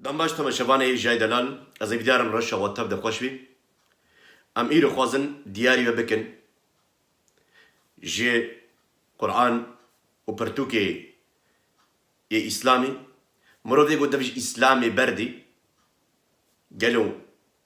Dem baş Tome Şebanê ê Jay Delal Ez ê vîdyarim reşa we tev de xweş bî. Em îro xwazin diyarî we bikin ji Quran û pirtûkê yê Îslamî. Mirov dê ku dev ji Îslamê berdî gelo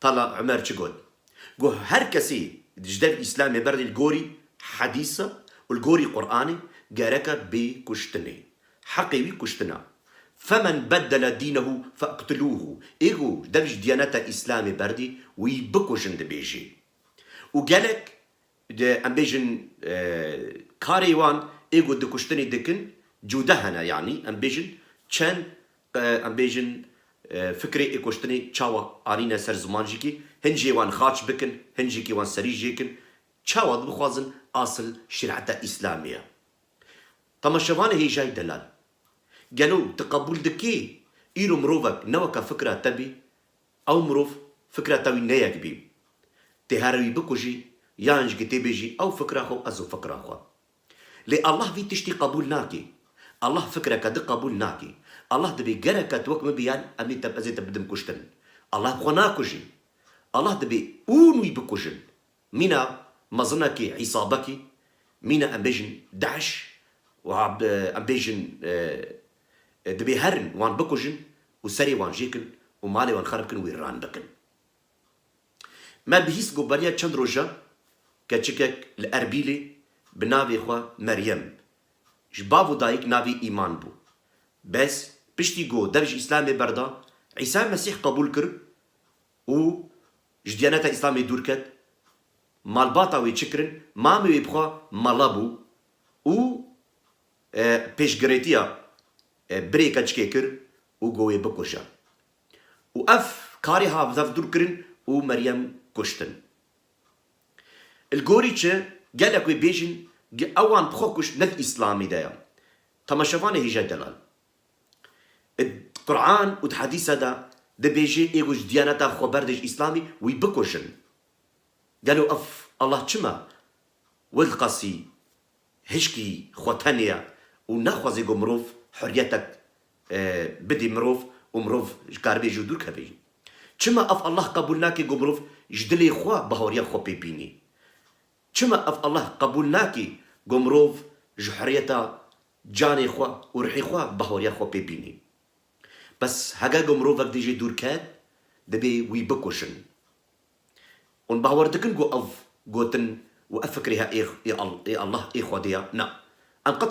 Tala Umer çi got? Got, Her kesî ji dev Îslamê berdê li gorî hedîsa û li gorî Quranê gereka bê kuştinê. Heqê wî kuştin a. Femen beddela dînehu feqtulûhu, ê ku dev ji diyaneta Îslamê berdê wî bikujin dibêjê. Û gelek Di em bêjin karê wan ê ku dikuştinê dikin cuda hene yanî em bêjin çend em bêjin fikrê ê kuştinê çawa anîne ser ziman jî kî hin jê wan xaç bikin hin jî kî wan serî jêkin çawa dibixwazin asil şerîeta îslamî ye. Temaşevanê hêjayî delal gelo tu qebûl dikî îro mirovek ne weke fikra te bî Ew mirov fikra te wî neyek bî. Tê here wî bikujî yan ji gitê bêjî ew fikra xwe û ez û fikra xwe. Lê Allah vî tiştî qebûl nakî. Allah fikreke di qebûl nakî. Allah dibê gereke tu wek min bî yan em ê te ez ê te bidim kuştin. Allah bi xwe nakujî. Allah dibê ûn wî bikujin. Mîna mezina kî hîsaba kî mîna em bêjin DAIŞ û em bêjin dibê herin wan bikujin û serê wan jêkin û malê wan xerib kin û wîrran bikin. Me bihîst ku beriya çend rojan keçikek li Erbîlê bi navê xwe Meryem ji bav û dayik navê Îman bû. Bes piştî ku dev ji Îslamê berda, Îsa Mesîh qebûl kir û Ji Diyaneta Îslamê dûr ket, malbata wê çi kirin, mamê wê bi xwe mala bû û pêşgirêtiya birê keçikê kir û got wê bikuje û ev karê hat bi dev dûr kirin û Meryem kuştin. Li gorî çi, gelek wê bêjin, ewan bi xwe kuşt ne di Îslamê de ye. Temaşevanê Hêja Delal. Di Quran û di Hedîsa de dibêje ê ku ji Diyaneta xwe berdêj Îslamî wî bikujin. Gelo ev Allah çima wê diqasî hişkî xwe tenê ye û naxwaze ku mirov hurriyetek bidê mirov û mirov ji karibê jî dûr keve jî? Çima ev Allah qebûl nake ku mirov ji dilê xwe bahoriya xwe pê bînê? Çima ev Allah qebûl nake ku mirov ji hurriyeta Canê xwe û ruhê xwe bahoriya xwe pê bînî. Bes hege ku mirovek di jê dûr ket, dibê wî bikuşin. Hûn bawer dikin ku ev gotin û ev fikrê he ê ê Allah, ê Xwedê ya? Na. Em qet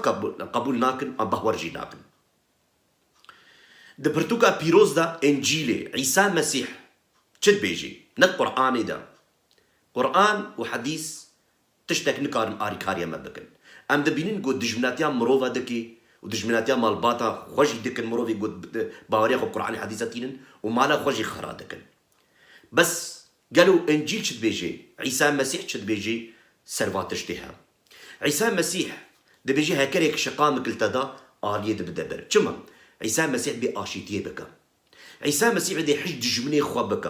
qebûl nakin an bahwer jî nakin. Di pirtûka pîroz de Încîlê Îsa Mesîh çi dibêjî? Ne di Quranê de. Quran û Hedîs Tiştek nikarin alîkariyê me bikin. Em dibînin ku dijminatiya mirov e dikê û dijminatiya malbata xwe jî dikin, mirovê ku di baweriya xwe Quranê Hedîsa tînin û mala xwe jî xera dikin. Bes gelo Încîl çi dibêje, Îsa Mesîh çi dibêje ser van tiştê he. Îsa Mesîh dibêje hekerek şiqamik li te da aliyê di bide ber. Çima? Îsa Mesîh dibê aşîtiyê bike. Îsa Mesîh dibê hişt dijminê xwe bike.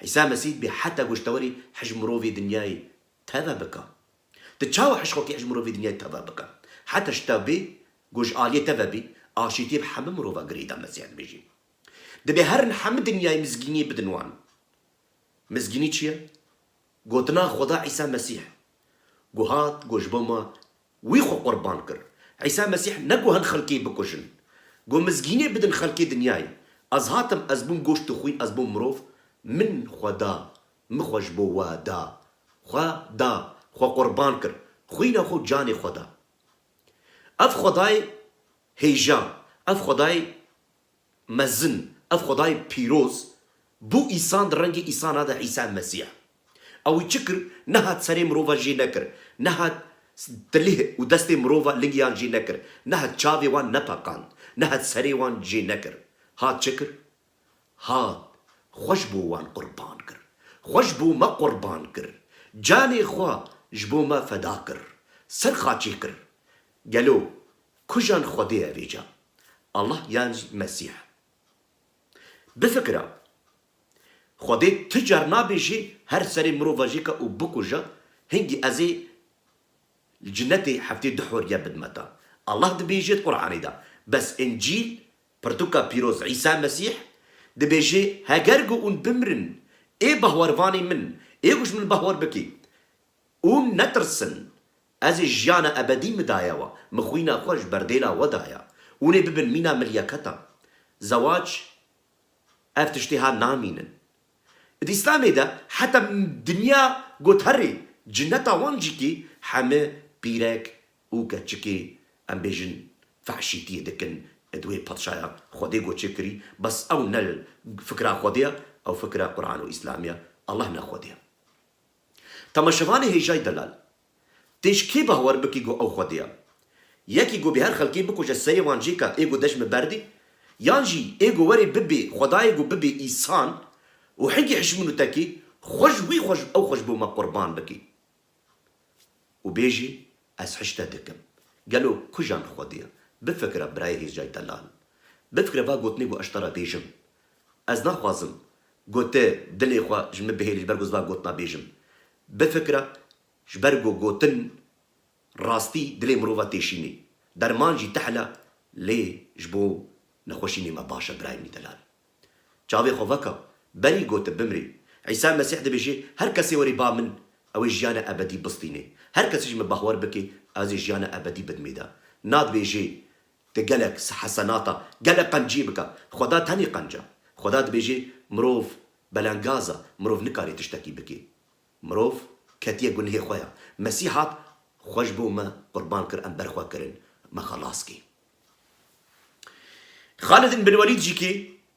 Îsa Mesîh bê heta goştewerî hijmirovê dinyayê teve bike. Tu çawa hişxokî hijmirovê dinyayê teve bike? Heta şita vê ku ji aliyê te ve bî, aşîtiyê bi hemû mirovan girêdan Mesîha dibêjî. Dibê herin hemû dinyayê mizgîniyê bidin wan. Mizgînî çi ye? Gotina Xweda Îsa Mesîh ku hat ku ji bo me Wî xwe qurban kir. Îsa Mesîh ne got hin xelkê bikujin. Got mizgînê bidin xelkê dinyayê. Ez hatim, ez bûm goşt û xwîn, ez bûm mirov. Min xwe da. Min xwe ji bo we da. Xwe da. Xwe qurban kir. Xwîna xwe û canê xwe da. Ev Xwedayê hêja, ev Xwedayê mezin, ev Xwedayê pîroz bû îsan di rengê îsan a de Îsa Mesîh. A wî çi kir? Nehat serê mirova jê nekir, nehat tilih û destê mirova lingiyan jê nekir, nehat çavê wan nepeqand, nehat serê wan jê nekir. Hat çi kir? Hat xwe ji bo wan qurban kir. Xwe ji bo me qurban kir. Canê xwe ji bo me feda kir. Ser xaçê kir. Gelo kujan Xwedê ye vêca? Allah yan jî Mesîh? Bifikira. Xwedê tu car nabê jî her serê mirova jî ke û bikuja, hingî ez ê li cinetê heftê du horiye bidime te. Allah dibêje di Quranê de, bes Încîl, pirtuka pîroz Îsa Mesîh, dibêje heger ku ûn bimirin, ê bahwarvanê min, ê ku ji min bahwar bike, ûn netirsin, ez ê jiyana ebedî min daye we, min xwîna xwe ji ber dêla we daye, ûn ê bibin mîna min yeke te. Zewac Ev tiştê ha namînin. Di Îslamê de heta dinya got herî cineta wan jî kî heme pîrek û keçikê em bêjin fehşîtiyê dikin di wê patşaya Xwedê got çê kirî bes ew ne fikra Xwedê ye ew fikra Quran û Îslamê ye Allah ne Xwedê ye. Temaşevanê hêjayî delal Tê ji kê bawer bikî ku ew xwedê ya? Yekî ku bê her xelkê bikuje serê wan cê ka ê ku dej min berdê? Yan jî ê ku werê bibê xwedayê ku bibê îsan û hingî hişmin û tekê xwe ji wî xwe ji ew xwe ji bo me qurban bikê û bêjê ez hiş te dikim? Gelo kujan xwedê ya? Bifikire birayê hêzcayî te lal. Bifikire va gotinê ku ez ji te re bêjim. Ez naxwazim ku tu dilê xwe ji min bihêlî ji ber ku ez van gotina bêjim. Bifikire, ji ber ku gotin rastî dilê mirova têşînê. Derman jî tehle lê ji bo nexweşînê me baş e birayê min delal. Çavê xwe veke, berî ku tu bimrî. Îsa Mesîh dibêje, Her kesê were ba min, ew ê jiyana ebedî bistîne. Her kesî ji min bahwer bike, ez ê jiyana ebedî bidmê de. Nadibêje, Te gelek hesenata, gelek qencî bike. Xweda tenê qenc e. Xweda dibêjê mirov belengaz e, mirov nikarê tiştekî bikê. Mirov ketiye gunhê xwe ya. Mesîh hat, xwe ji bo me qurban kir, em ber xwe kirin, me xelas kê. Xalid ibn Welîd jî kê?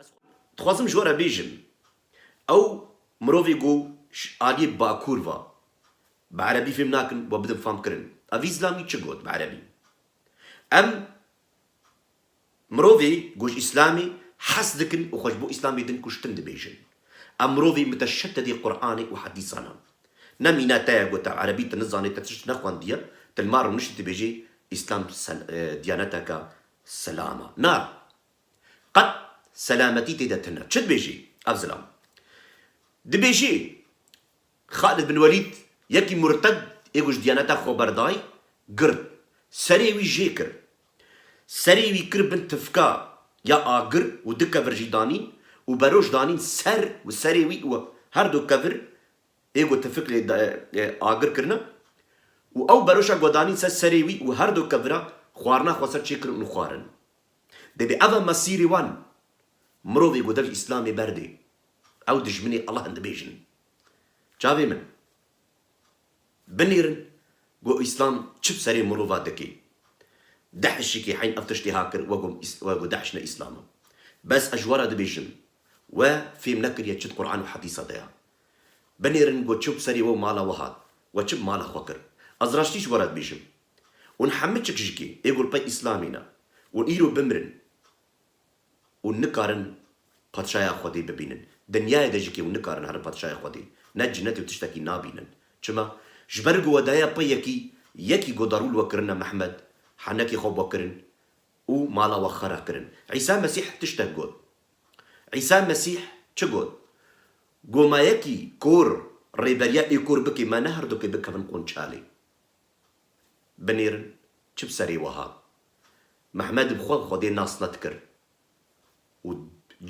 Ez dixwazim ji we re bêjim, ew mirovê ku ji aliyê Bakur va, bi erebî fêm nakin we bidim famkirin. Avîz Lamî çi got bi erebî? Em mirovê ku ji îslamê hez dikin û xwe ji bo îslamê din kuştin dibêjin. Em mirovê muteşededê Quranê û hedîsan in. Ne mîna te ye ku te erebî tu nizanî, te tişt nexwendiye, tu li mal rûniştî dibêjî îslam diyaneteke silam e. Na, Qet selametî tê de tune. Çi dibêjî ev zilam? Dibêjî Xalid bin Welîd yekî murted ê ku ji Diyaneta xwe berdayî, girt. Serê wî jê kir. Serê wî kir bin tifka ya agir û du kevir jî danîn û beroj danîn ser û serê wî û her du kevir ê ku tifik lê agir kirine û ew beroşa ku danîn ser serê wî û her du kevira xwarina xwe ser çêkirin û xwarin. Dê bi ava mesîrê wan mirovê ku dev îslamê berdê ew dijminê Allahan dibêjin. Çavê min, binêrin ku îslam çi bi serê mirova dike. Dehişîkê heyn ev tiştê ha kir we ku Dehiş ne îslam e. Bes ez ji we re dibêjim, we fêm nekiriye çi di Quran û hedîsa de ye. Binêrin ku çi bi serê we û mala we hat, we çi bi mala xwe kir. Ez raştî ji we re dibêjim, Hûn hemû çikişikê ê golpey îslamî ne û îro bimirin û nikarin Patşaya Xwedê bibînin. Dinyayê de jî kê hûn nikarin herin Patşaya Xwedê ne cinetê û tiştekî nabînin. Çima? Ji ber ku we daye pey yekî, yekî ku darûl we kirin ne Mehmed, henekê xwe we kirin û mala we xera kirin. Îsa Mesîh tiştek got. Îsa Mesîh çi got? Got ma yekî kor rêberiya ê kor bikê me ne herdukê bikevin qonçalê. Binêrin çi bi serê wiha. Mehmed bi xwe bi Xwedê nas net kir û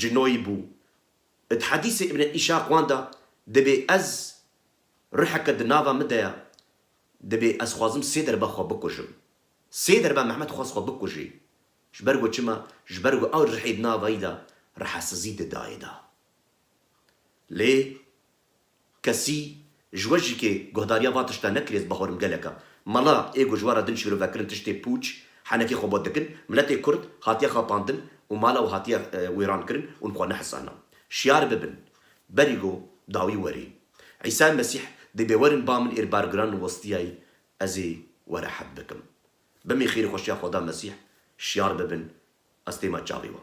cinoyî bû. Di hedîsê Îbne Îşaq wan de dibê ez ruheke di nava min de ye, dibê ez xwazim sê derbe xwe bikujim. Sê derbe Mehmed xwest xwe bikujî. Ji ber ku çima? Ji ber ku ew ruhê di nava yî de ruhesizî di dayê de. Lê Kesî ji we jî kê guhdariya va tişta nekirî ez bahorim geleka mala ê ku ji we re din şîrovekirin tiştê pûç henekê xwe bot dikin miletê kurd hatiye xapandin û mala wî hatiye wêrankirin ûn xwe nehisana şiyar bibin berî go dawî werê Îsay Mesîh dê bê werin ba min êr bargiran westiyay ez ê we rehet bikim bimî xêrî xweşiya xweda Mesîh şiyar bibin ez têma çavê we.